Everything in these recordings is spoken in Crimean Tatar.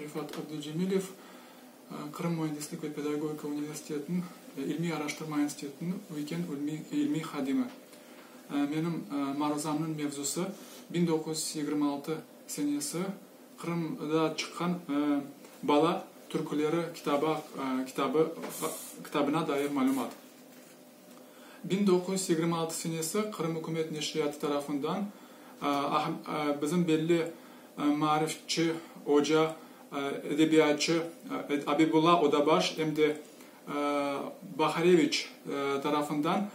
Refat Abducemilev, Qırım Müendislik ve Pedagogika Universitetiniñ İlmiy-araştırma institutınıñ ögken ilmiy hadimi. Menim maruzamnıñ mevzusı, biñ doquz yüz yigirmi altı senesi Qırımda çıqqan Bala türküleri kitabı, kitabına dair malümat. Biñ doquz yüz yigirmi altı senesi Qırım ükümet neşriyatı tarafından bizim belli maarifçi, oca, edebiyatçı Abibulla Odabaş em de Bahareviç tarafından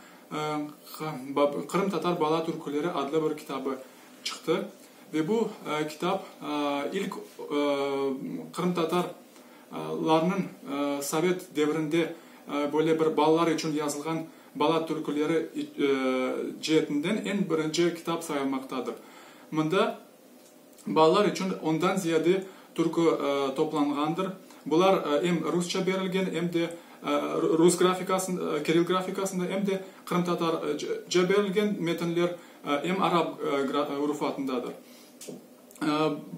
Qırımtatar bala türküleri adlı bir kitabı çıqtı. Ve bu kitap ilk qırımtatar larnıñ sovet devrinde böyle bir balalar içün yazılğan bala türküleri ceetinden eñ birinci kitap sayılmaqtadır. Mında balalar içün ondan ziyade türkü toplanğandır. Bular em rusça berilgen, em de rus grafikasında, kiril grafikasında, em de qırımtatarca berilgen metinler, em arap rufatındadır.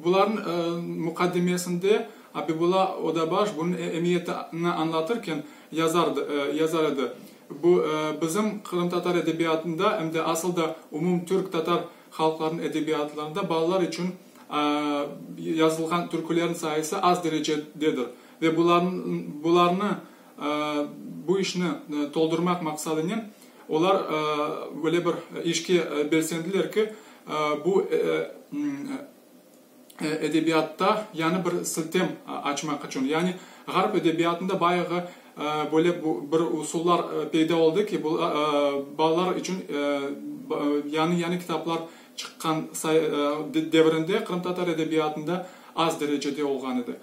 Bularnıñ muqaddimesinde Abibulla Odabaş bunıñ emiyetini añlatırken yazar edi, Bu, bizim qırımtatar edebiyatında, em de asıl da umum türk-tatar halqlarınıñ edebiyatlarında balalar içün yazılğan türkülerniñ sayısı az derecededir ve bularnı, bu işni toldurmaq maqsadınen Olar böyle bir işke belsendiler ki, bu edebiyatta yañı bir siltem açmaq içün. Yani Ğarp edebiyatında bayağı böyle bir usullar peyda oldı ki, balalar içün yañı-yañı kitaplar çıqqan devrinde qırımtatar edebiyatında az derecede olğan edi.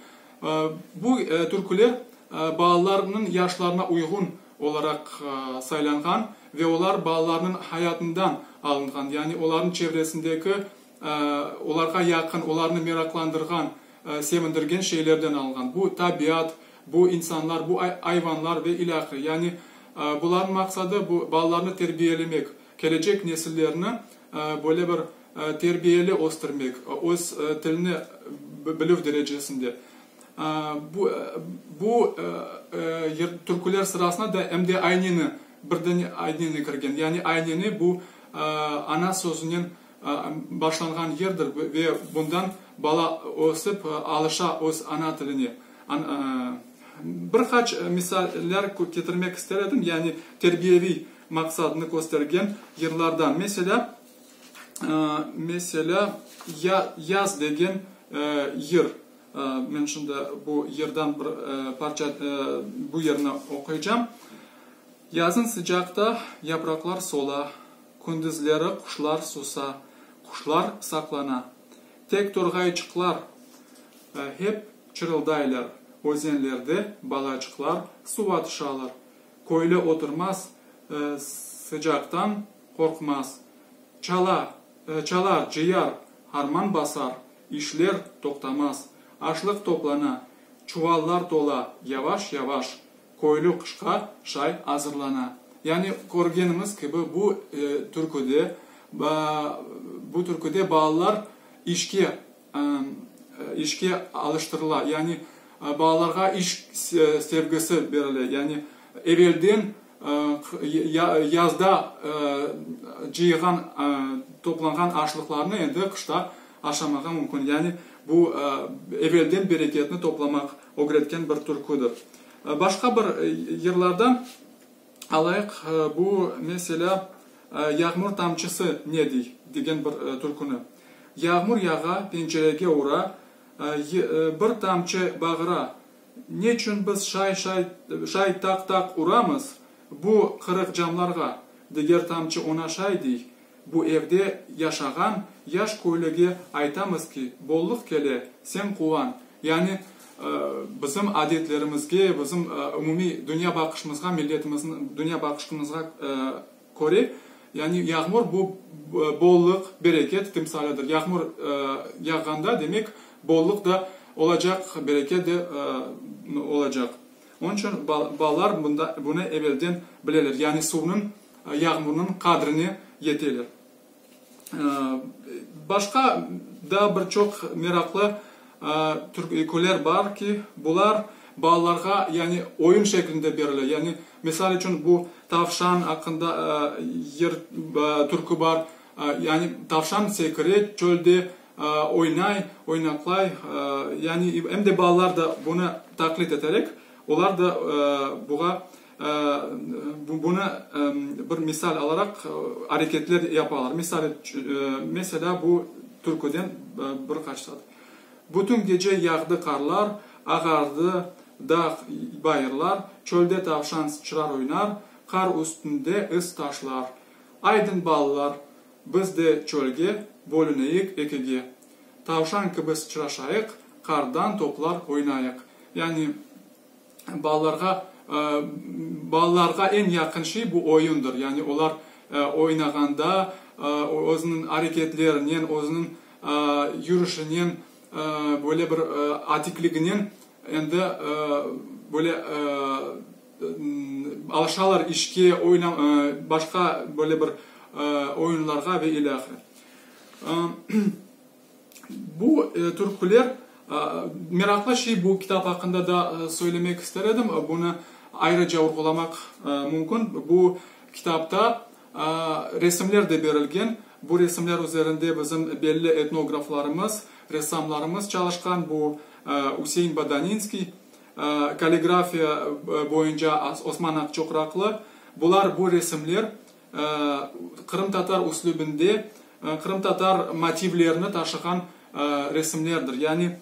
Bu türküler balalarnıñ yaşlarına uyğun. olaraq saylanğan ve olar balalarnıñ hayatından alınğan, yani olarnıñ çevresindeki, olarğa yaqın, olarnı meraqlandırğan, sevindirgen şeylerden alınğan. Bu, tabiat, bu, insanlar, bu, ayvanlar ve ilâhre. Yani bularnıñ maqsadı, bu, balalarnı terbiyelemek, kelecek nesillerni böyle bir terbiyeli östürmek, öz tilini bilüv derecesinde. Bu türküler sırasına da em de ayneni, birden ayneni kirgen. Yani ayneni bu ana sözünen başlanğan yerdir ve bundan bala ösip alışa öz ana tiline. Bir qaç misaller ketirmek ister edim, yani terbiyeviy maqsadını köstergen yırlardan. Meselâ, meselâ, yaz degen yır. Men şimdi bu yerden bir parça, bu yerni oquycam. Yazın sıcaqta yapraqlar sola, Kündüzleri quşlar susa, quşlar saqlana. Tek torğayçıqlar hep çırıldaylar, Özenlerde balaçıqlar suva tışalar. Köyli oturmaz, sıcaqtan qorqmaz, Çala, çalar, cıyar, harman basar, İşler toqtamaz. Aşlıq toplana, çuvallar tola, yavaş-yavaş köylü qışqa şay azırlana. Yani körgeniñiz kibi, bu türküde, bu türküde balalar işke, işke alıştırıla, yani balalarğa iş sevgisi berile. Yani evelden. Yazda cıyğan, toplanğan aşlıqlarnı endi qışta aşamağa mümkün. Yani bu evelden bereketni toplamaq ögretken bir türküdir. Başqa bir yırlarda alayıq bu meselâ Yağmur tamçısı ne diy? degen bir türküni. Yağmur yağa, pencerege ura, Bir tamçı bağıra, Neçün biz şay-şay, şay taq-taq uramız bu qırıq camlarğa? Diger tamçı oña şay dey. Bu evde yaşağan yaş köylüge aytamız ki, bollıq kele, sen quvan. Yani, bizim adetlerimizge, bizim umumiy dünya baqışımızğa, milletimizniñ dünya baqışımızğa, köre, yani yağmur bu bollıq, bereket timsalidir. Yağmur yağğanda, demek, bollıq da olacaq, bereket de olacaq. Onıñ içün balalar bunı evelden bileler, yani suvnıñ, yağmurnıñ qadrine yeteler. Başqa daa bir çoq meraqlı türk öyküler bar ki, bular balalarğa, yani oyun şeklinde berile. Yani misal içün bu Tavşan aqqında türkü bar. Yani tavşan sekire çölde, oynay, oynaqlay. Yani em de balalar da bunı taqlit eterek, olar da buğa. Bunı bir misal alaraq areketler yapalar. Misal, meselâ, bu türküden bir qaç sat. Bütün gece yağdı qarlar, ağardı dağ, bayırlar, çölde tavşan sıçrar oynar, qar üstünde iz taşlar. Aydın balalar, biz de çölge, bölüneyik ekige. Tavşan kibi sıçraşayıq, qardan toplar oynayıq. Yani. Balalarğa, balalarğa eñ yaqın şey bu oyundır, yani olar oynağanda özüniñ areketlerinen, özüniñ yürüşinen, böyle bir atikliginen endi böyle alışalar işke, oyna, başqa böyle bir oyunlarğa ve ilâhre. Bu türküler, meraqlı şey, bu kitap aqqında da söylemek ister edim, bunı ayrıca vurğulamaq mümkün, bu kitapta resimler de berilgen, bu resimler üzerinde bizim belli etnograflarımız, ressamlarımız çalışqan, bu Üsein Badaninskiy, kalligrafiya boyunca Osman Aqçoqraqlı, bular, bu resimler, qırımtatar üslübinde qırımtatar motivlerini taşığan resimlerdir. Yani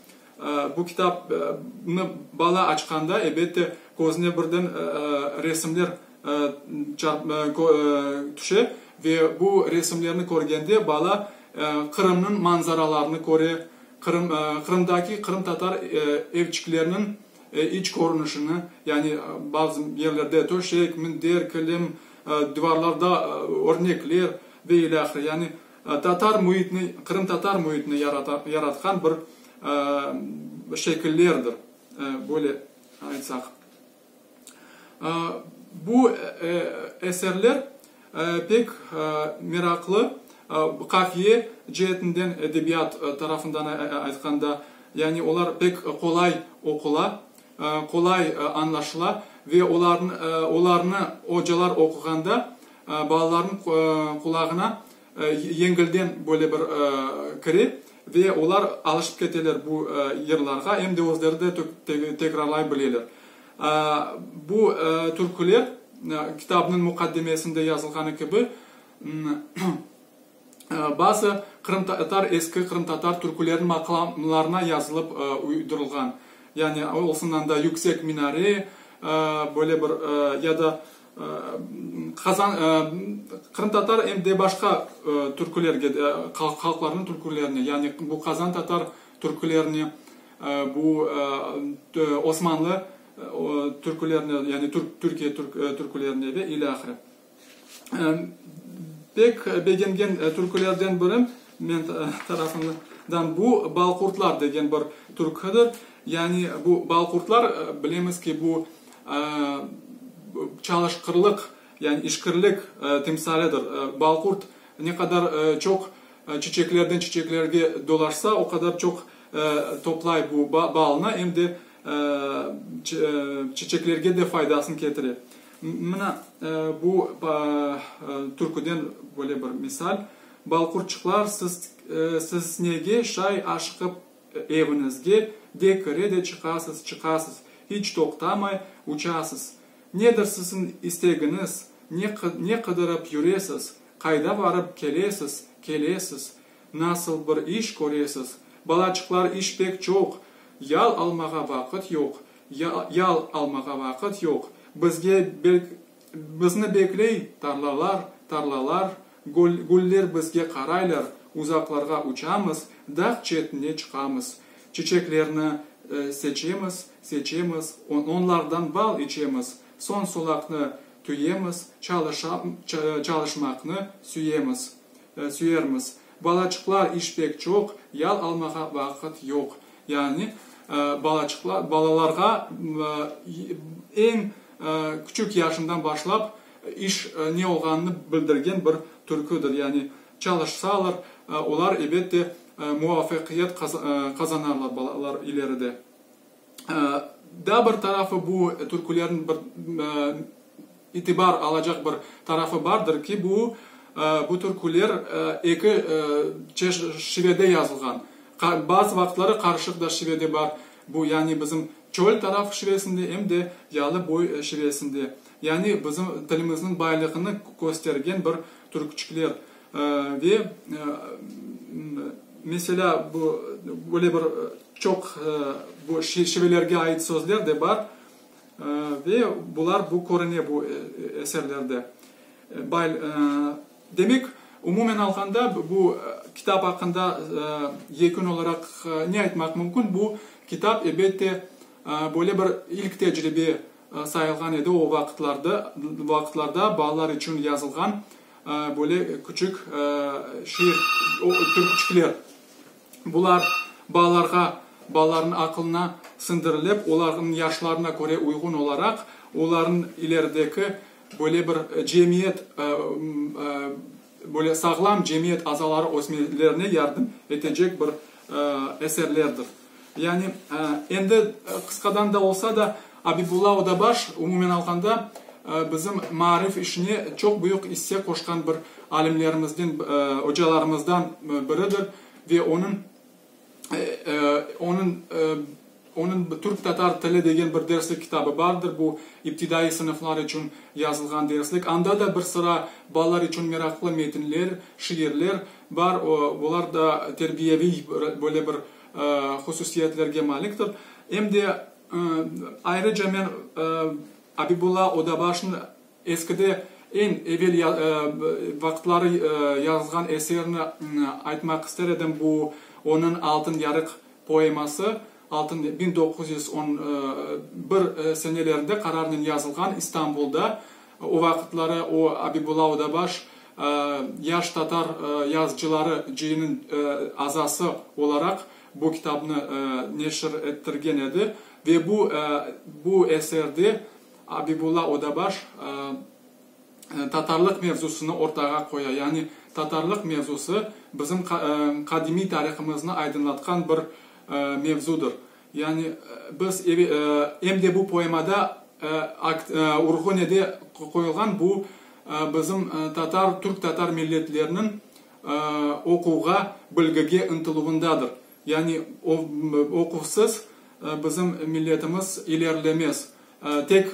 bu kitapnı bala açqanda, elbette, közüne birden resimler tüşe ve bu resimlerni körgende bala Qırımnıñ manzaralarını köre, Qırımdaki qırımtatar evçikleriniñ e, iç körünişini, yani bazı yerlerde töşek, minder, kilim, divarlarda örnekler ve ilâhre, yani tatar müitini, qırımtatar müitini yarata, yaratqan bir şekillerdir, böyle aytsaq. Bu eserler Pek meraqlı, qafiye ceetinden, edebiyat tarafından aytqanda, yani olar pek qolay oqula, qolay añlaşıla ve olarnı ocalar oquğanda balalarnıñ qulağına yengilden böyle bir kire ve olar alışıp keteler bu yırlarğa, em de özleri de tekrarlay bileler. Bu türküler, kitabnıñ muqaddimesinde yazılğanı kibi, bazı qırımtatar, eski qırımtatar türküleriniñ maqamlarına yazılıp uydurılğan. Yani, olsun anda Yüksek minare, böyle bir, ya da Qazan, qırımtatar em de başqa türkülerge de, halqlarnıñ türkülerine, yani bu qazantatar, Türkülerni bu Osmanlı türkülerni, yani Türkiye türkülerni ve ile ahire. Pek begengen türkülerden biri men tarafımdan bu Balqurtlar degen bir türküdir. Yani bu Balqurtlar bilemiz ki, bu çalışqırlıq, yani işkirlik timsalidir. Balqurt ne qadar çoq Çiçeklerden çiçeklerge dolaşsa, o qadar çoq toplay bu balnı, em de çiçeklerge de faydasını ketire. Mına bu türküden böyle bir misal, Bal qurçuqlar, siz nege şay aşıqıp eviñizge de kire de çıqasız, çıqasız, hiç toqtamay uçasız? Nedir siziñ istegiñiz, ne qıdırıp yüresiz? Qayda barıp kelesiz, kelesiz? Nasıl bir iş köresiz? Balaçıqlar, iş pek çoq, yal almağa vaqıt yoq, yal almağa vaqıt yoq. Bizge belk, bizni bekley tarlalar, tarlalar, gül, güller bizge qaraylar, uzaqlarğa uçamız, dağ çetine çıqamız. Çiçeklerni seçemiz, seçemiz, onlardan bal içemiz, soñ solaqnı Tüyemiz, çalışmaqnı süyemiz, süyermiz. Balaçıqlar iş pek çoq, yal almağa vaqıt yoq. Yani, balaçıqlar, balalarğa eñ küçük yaşından başlap iş ne olğanını bildirgen bir türküdir. Yani, çalışsalar, olar, ebet de, muvafaqiyet qazanarlar balalar ileride. Daa bir tarafı bu türkülerniñ bir itibar alacaq bir tarafı bardır ki, bu bu türküler eki şivede yazılğan. Bazı vaqıtları qarışıq da şive de bar. Bu yani bizim çöl taraf şivesinde em de yalı boy şivesinde. Yani bizim tilimizniñ baylığını köstergen bir türküçikler. Ve, meselâ, bu, böyle bir çoq bu şivelerge ait sözler de bar. Ve bular, bu körüne bu eserlerde. Demek, umumen alğanda, bu kitap aqqında yekün olaraq ne aytmaq mümkün? Bu kitap, elbette, böyle bir ilk tecribe sayılğan edi o vaqıtlarda, balalar içün yazılğan. Böyle küçük şiir, pürküçükler. Bular balalarğa, balalarnıñ aqılına siñdirilip, olarnıñ yaşlarına köre uyğun olaraq, olarnıñ ilerideki böyle bir cemiyet, böyle sağlam cemiyet azaları ösmelerine yardım etecek bir eserlerdir. Yani, endi qısqadan da olsa da, Abibulla Odabaş, umumen alğanda, bizim maarif işine çoq büyük isse qoşqan bir alimlerimizden, ocalarımızdan biridir ve onıñ, onıñ, onıñ Türk-Tatar tili degen bir derslik kitabı bardır, bu iptidaiy sınıflar içün yazılğan derslik. Anda da bir sıra balalar içün meraqlı metinler, şiirler, Bar, olar da terbiyeviy böyle bir hususiyetlerge maliktir. Em de ayrıca men Abibulla Odabaşnı eskide eñ evel vaqıtları yazğan eserini aytmaq ister edim, bu onıñ Altın yarıq poeması, altın, biñ doquz yüz on bir senelerde qararnen yazılğan İstanbulda, O vaqıtları o Abibula Odabaş yaş tatar yazıcıları cıyınıñ azası olaraq bu kitabnı neşir ettirgen edi ve bu bu eserde Abibula Odabaş tatarlıq mevzusını ortağa qoya, yani tatarlıq mevzusı bizim qadimiy tarihımıznı aydınlatqan bir mevzudır. Yani, biz evi, em de bu poemada akt, urğu ne de qoyulğan, bu bizim tatar, türk-tatar milletleriniñ oquvğa, bilgige ıntıluvındadır. Yani, oquvsız bizim milletimiz ilerlemez. Tek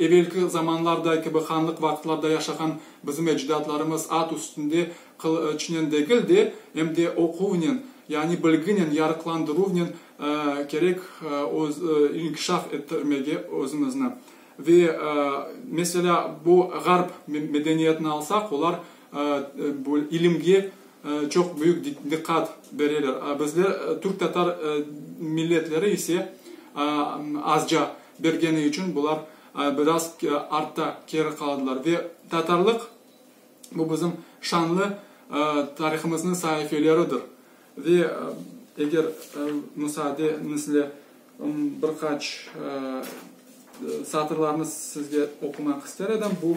evelki zamanlarda kibi hanlıq vaqıtlarda yaşağan bizim ecdatlarımız at üstünde qılıçnen degil de, em de oquvnen, yani bilginen, yarıqlandıruvnen kerek inkişaf ettirmege özümizni. Ve, meselâ, bu Ğarp medeniyetini alsaq, olar ilimge, Çoq büyük diqqat bereler. Bizler, türk-tatar milletleri ise, azca bergeni içün bular biraz artta, keri qaladılar. Ve tatarlıq, bu bizim şanlı tarihımıznıñ saifeleridir. Ve eger müsaadeñizle, bir qaç satırlarnı sizge oqumaq ister edim. Bu.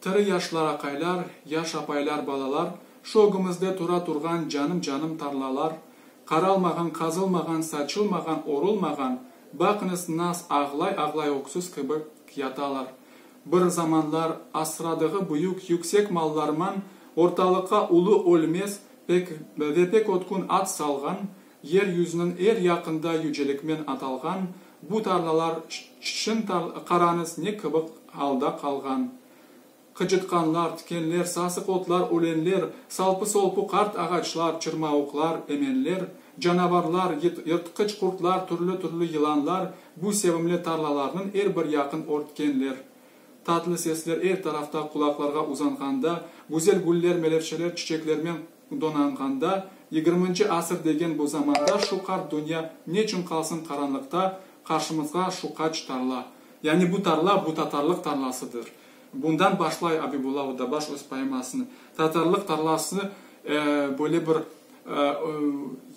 Tiri yaşlar aqaylar, yaş apaylar balalar, şu ögümizde tura turğan canım canım tarlalar, qaralmağan, qazılmağan, saçılmağan, orulmağan, baqıñız nas ağlay ağlay öksüz kibi yatalar. Bir zamanlar asradığı büyük, yüksek mallarman ortalıqqa ulu ölmez pek ve pek ötkün at salğan, Yer yüzüniñ er yaqında yücelikmen atalğan bu tarlalar ççın tar qarañız ne kıbıq alda qalğan. Qıcıtqanlar, tikenler, sasıq otlar, ölenler, salpı-solpu qart ağaçlar, çırmauqlar, emenler, canavarlar, yıt yırtqıç qurtlar, türlü-türlü yılanlar bu sevimli tarlalarnıñ er bir yaqın örtkenler. Tatlı sesler er tarafta qulaqlarğa uzanğanda, güzel güller, melevşeler, çiçeklermen Donanğanda, yigirminci asır degen bu zamanda şu qart dünya neçün qalsın qaranlıqta, qarşımızğa şu qaç tarla. Yani bu tarla, bu tatarlıq tarlasıdır. Bundan başlay Abibulla Oddabaş öz poemasını. Tatarlıq tarlası, e, böyle bir, e,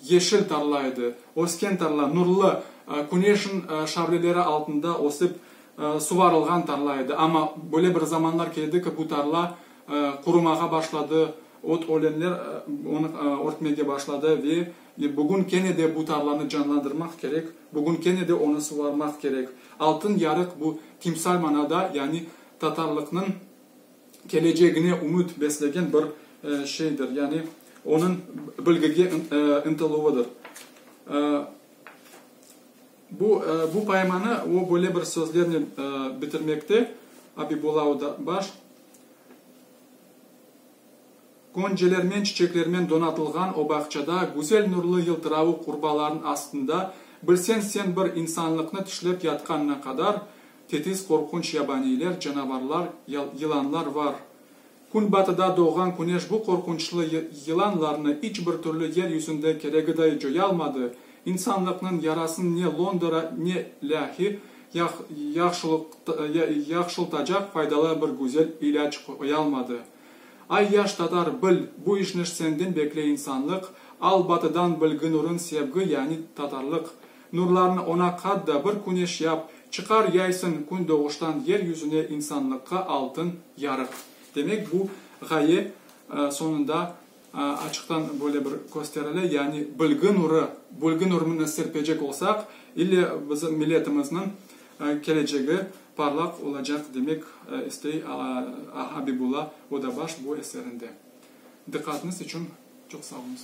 yeşil tarla edi, ösken tarla, nurlı, e, küneşin, e, şavleleri altında ösip, e, suvarılğan tarla edi. Amma böyle bir zamanlar keldi ki, bu tarla, e, qurumağa başladı, Ot ölenler onı örtmege başladı ve bugün kene de bu tarlanı canlandırmaq kerek, bugün kene de onı suvarmaq kerek. Altın yarıq bu timsal manada, yani tatarlıqnıñ kelecegine ümüt beslegen bir şeydir, yani onıñ bilgige ıntıluvıdır. Bu bu poemanı o böyle bir sözlernen bitirmekte, Abibulla Odabaş. Qoncelermen, çiçeklermen donatılğan o bağçada, güzel nurlı yıltıravıq qurbalarnıñ astında, bilseñ sen bir insanlıqnı tişlep yatqanına qadar, tetiz qorqunç yabaniyler, canavarlar, yılanlar var. Künbatıda doğğan küneş bu qorqunçlı yılanlarnı iç bir türlü yer yüzünde keregiday coyalmadı, İnsanlıqnıñ yarasın ne Londra, ne Lâhi yahşıltacaq faydalı bir güzel ilâc qoyalmadı. Ay yaş tatar, bil, bu işniş senden bekley insanlıq, al batıdan bilgi nurun sevgi, yani tatarlıq, nurlarını ona qat da bir küneş yap, çıqar yaysın kündoğuştan yer yüzüne insanlıqqa altın yarıq. Demek bu ğaye soñunda. Açıqtan böyle bir kösterile, yani bilgi nuru, bilgi nurunı serpecek olsaq, ille bizim milletimizniñ kelecegi parlaq olacaq, demek istey Abibulla Odabaş bu eserinde. Diqqatınız içün çoq sağ oluñız.